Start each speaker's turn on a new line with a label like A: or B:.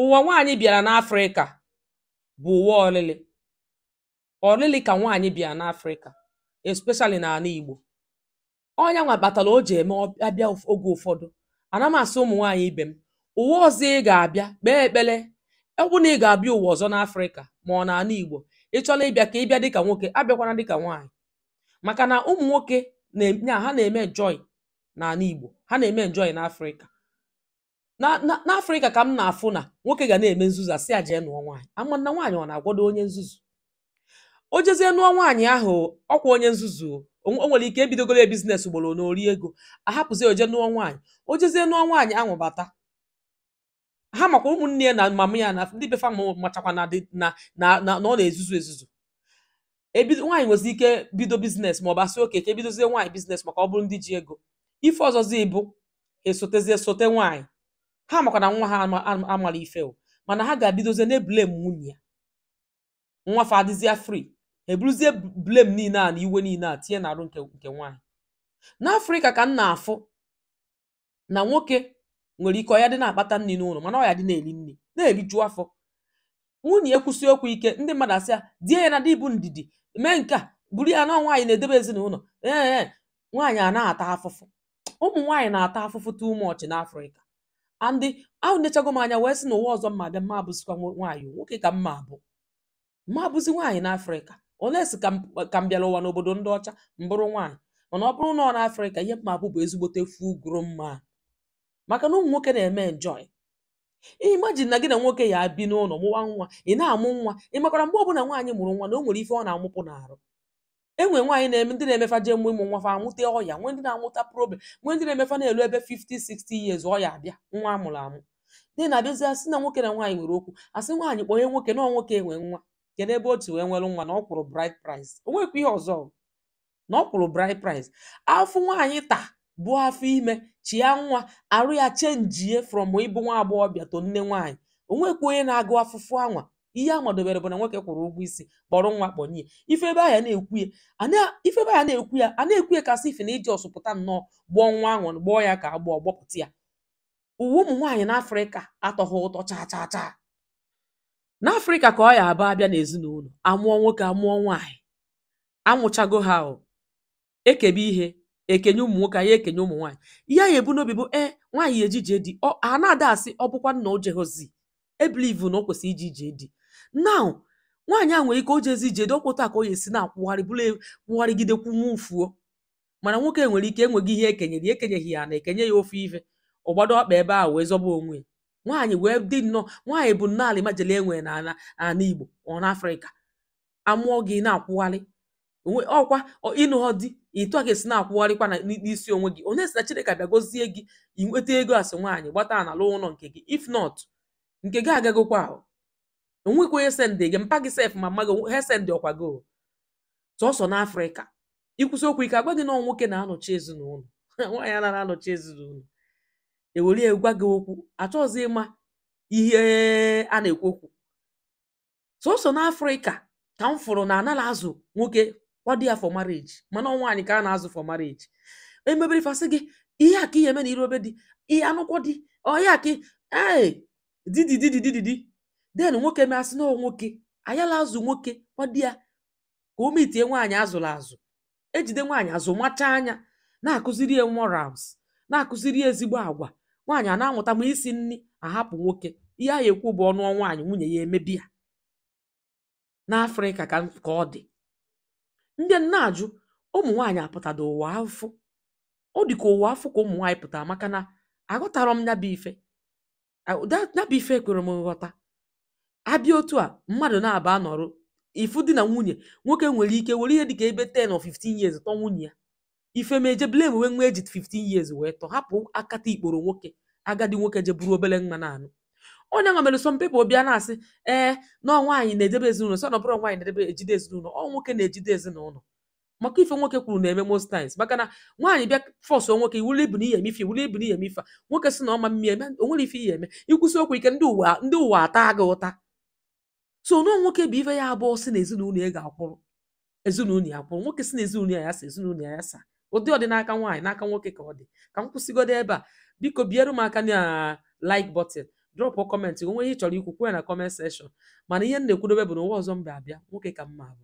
A: ụwa nwaanyị bịara n'afrịka bụ ụwa ọlịlị ọlịlị ka nwaanyị bịara n'afrịka especially n'ala igbo ọ nya nwa kpatara o ji eme ọ- abịa ụf- oge ụfọdụ ana m asị ụmụ nwaanyị ibe m ụwa ọzọ ị ga-abịa kpee ekpere ọ bụrụ na ị ga-abịa ụwa ọzọ n'afrịka ma ọ n'ala igbo ị chọrọ ịbịa ka ị bịa dịka nwoke abịakwana dịka nwaanyị maka na ụmụ nwoke na-eme ha na-eme enjoy n'ala igbo ha na-eme enjoy n'afrịka Na- na- n'afrịka ka m na-afụ na nwoke ga na-eme nzuzu asị ya jee nụọ nwaanyị ama na nwaanyị ọ na-agwọdo onye nzuzu o jezie nụọ nwaanyị ahụ ọkwa onye nzuzu o O nwe- o nwere ike ebidogoro ya business ugboro anọ o rie ego ahapụzi o jee nụọ nwaanyị o jezie nụọ nwaanyị ahụ bata ha makwa ụmụnne ya na mama ya na ndị be fa ma machakwa na dị- na na na na ọ na-ezuzu ezuzu ebido nwaanyị nwezi ike bido business ma ọ bụ asị okay ka ebidozie nwaanyị business maka ọ bụrụ ndị ji ego ife ọzọzi bụ esotezie sote nwaanyị ha makwa na nwa ha ama- ama- amara ife o mana ha ga-ebidozie na-eblame nwunye ya nwa fa adịzie free eburuzie blame niile a na iwe niile a tinye n'arụ nke nke nwaanyị n'afrịka ka m na-afụ na nwoke nwere ike ọ ya dị na-akpata nri n'ụlọ mana ọ ya dị na-eri nri na-eriju afọ nwunye ya kwusie okwu ike ndị mmadụ asị ya die ya na di bụ ndidi mee nke a buru ya na ọ nwaanyị na-edebe ezinụlọ ee ee nwaanyị a na-ata afụfụ ụmụ nwaanyị na-ata afụfụ too much n'afrịka and enechago m anya wee sị na ụwa ọzọ m ma-abịa m ma-abụzikwa nwa- nwaanyị o, nwoke ka m ma-abụ ma abụzi nwaanyị n'afrịka unless ka m ka m bịara ụwa n'obodo ndị ọcha m bụrụ nwaanyị mana ọ bụrụ na ọ n'afrịka ihe m ma-abụ bụ ezigbote full grown man maka na ụmụ nwoke na-eme enjoy imagine na gị na nwoke ya-ebi n'ụlọ mụwa nwa ị na-amụ nwa ị makwara mgbe ọbụla nwaanyị mụrụ nwa na o nwere ife ọ na-amụpụ n'arụ enwe nwaanyị na-eme ndị na-eme fa jee mụ ịmụ nwa fa amụta ọya nwee ndị na-amụta problem nwee ndị na-eme fa na-elu ebe 50 60 years ọya abịa nwa amụrụ amụ ndị na-abịazi asị na nwoke na nwaanyị nwere okwu asị nwaanyị kpọnye nwoke na nwoke nwe nwa kedu ebe otu wee nwere nwa na ọ kwụrụ bride price o nwekwa ihe ọzọ na ọ kwụrụ bride price afụfụ nwaanyị taa buo afọ ime chịa nwa arụ ya chenjie from ịbụ nwa agbọghọbịa to nne nwaanyị o nwekwa onye na-agụ afụfụ anwa ihe a madobere bụ na nwoke kwụrụ ụgwọ isi kpọrọ nwa kpọnye ya. ị fụ ebe ahụ na-ekwu ya a na- ị fụ ebe ahụ na-ekwu ya a na-ekwu ya ka asị ife na i ji ọsọ pụta nnọọ gbọọ nwa ahụ gbọọ ya ka agbọọ gbọpụta ya ụwa ụmụ nwaanyị n'afrịka atọghị ụtọ chaa chaa chaa n'afrịka ka ọ ya abụ abịa n'ezinụlọ amụọ nwoke amụọ nwaanyị amụchago ha o ekebe ihe ekenye ụmụ nwoke anaghị ekenye ụmụ nwaanyị ihe a ya ebu n'obi bụ e nwaanyị eje ije di ọ a na-ada asị ọ bụkwanụ na o jehozi ebilivu na o kwesịrị ije ije di now nwaanyị a nwere ike o jezie ije di ọ kwụta ka ọ ya esi na-akwụgharị bụrụ e- kwụgharịgide kwụnwa ufuo mana nwoke nwere ike enweghị ihe ekenyere ya ekenyeghị ya na ekenye ya ofu ife ọ gbado ọkpa ebe ahụ wee zọba onwe ya nwaanyị wee dị nnọọ nwaanyị bụ nnọọ almajiri enwe na ala ala igbo ọ na afrịka amụọ gị na-akwụgharị onwe ọkwa ọ- ịnụghọ di ịtụ a ga-esi na-akwụgharịkwa na n- n'isi onwe gị unless na chineke abịa gozie gị i nweta ego as nwaanyị gbata ana lụọ ụlọ nke gị if not nke gị agagokwa ahụ o nwekwa onye sendị gị mpa gị sef ma mma gị ha sendịghọkwa gị o. sọsọ n'afrịka i kwusie okwu ike agwa gị na ọ nwoke na-anọchi ezinụlọ nwaanyị anaghị anọchi ezinụlọ ewere ya gwa gị okwu achọghịzi ịma ihe a na-ekwu okwu sọsọ n'afrịka ka m fụrụ na anala azụ nwoke kwado ya for marriage mana ọnwa anyị ka a na-azụ for marriage emebere fasị gị ihe a ka ihe eme na irobe dị ihe anụkwọ dị ọya ka ee didi didi didi di den nwoke mee asị na nwoke ayala azụ nwoke kwado ya ka o mitie nwaanyị azụrụ azụ ejide nwaanyị azụmacha anya na-akụziri ya morals na-akụziri ya ezigbo agwa nwaanyị a na-amụta ma isi nri ahapụ nwoke ihe a ya ekwu bụ ọ nụọ nwaanyị nwunye ya emebi ya n'afrịka ka ọ dị ndị m na-ajụ ụmụ nwaanyị apụtado ụwa afụfụ ọ dị ka ụwa afụfụ ka ụmụ nwaanyị pụtara maka na aghọtarọ m nya bụ ife nya bụ ife ekwerọ m nghọta abịa otu a mmadụ naabọ anọrụ ị fụ di na nwunye nwoke nwere ike were ihe dịka ebe 10 or 15 years tọ nwunye ya ife mee e je blamewe nwa eji 15 years wee tọ hapụ akata ikporo nwoke agadi nwoke je buru obere nwa na-anụ ọ nya nwa mere some people bịa na-asị ee na nwaanyị na-edebe ezinụlọ sọ na ọ bụrọ nwaanyị na-edebe ejide ezinụlọ ọ nwoke na-ejide ezinụlọ maka ife nwoke kwuru na-eme most times maka na nwaanyị bịa fọsụ nwoke iwuli ibu na ị ya-eme ife iwuli ibu na ị ya-eme ife a. nwoke sị na ọ ma mmiri eme o nwerọ ife ị ya-eme i kwusie okwu ike ndị ụwa ndị ụwa ata gị ụta so na nwoke bụ ife ya abụ ọ sị na ezinụlọ ya ga-akwụrụ ezinụlọ ya akwụrụ nwoke sị na ezinụlọ ya ya asa ezinụlọ ya ya asa ọ dịghọdị n'aka nwaanyị n'aka nwoke ka ọ dị ka m kwụsịgodo ebe a biko biere m aka na like button drop comment o nwere ihe ị chọrọ ikwu kwuo ya na comment section mana ihe m na-ekwudobe bụ na ụwa ọzọ m ma-abịa nwoke ka m ma-abụ